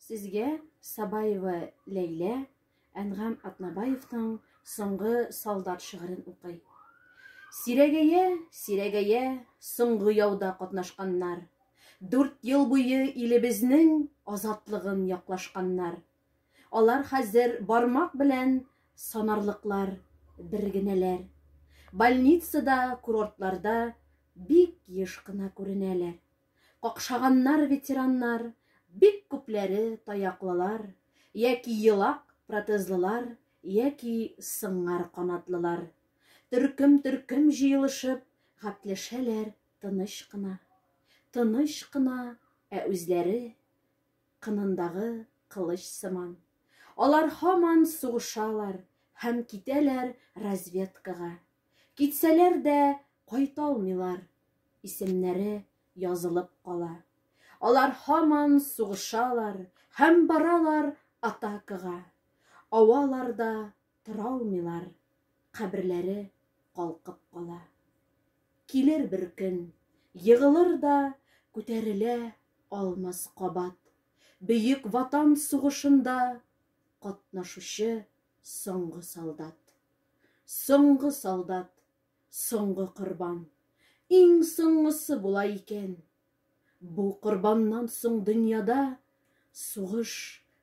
Сезгә Сабаева Ләйлә Әнгам Атнабаевның соңгы солдат шигырен укый. Сирәгәя, сирәгәя, соңгы яуда катнашканнар. Дүрт ел буе илебезнең азатлыгын яклашканнар. Алар хәзер бармак белән санарлыклар бер генәләр. Больницада, курортларда бик еш кына күренәләр. Какшаганнар ветераннар, бик күпләре таяклылар, яки елак протезлылар, яки сыңар канатлылар. Төркем-төркем җыелышып, гапләшәләр тыныч кына. Тыныч кына, ә үзләре кынындагы кылыч сыман. Алар һаман сугышалар һәм китәләр разведкага. Китсәләр дә кайталмыйлар, исемнәре язылып кала. Алар һаман сугышалар һәм баралар атакага. Аваларда торалмыйлар, каберләре калкып кала. Килер бер көн, егылыр да күтәрелә алмас кабат. Бөек Ватан сугышында катнашучы Соңгы солдат. Соңгы солдат. Соңгы корбан. Иң соңгысы була икән. Бу корбаннан соң дөньяда сугыш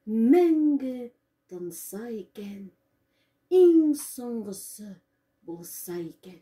мәңге тынса икән. Иң соңгысы булса икән.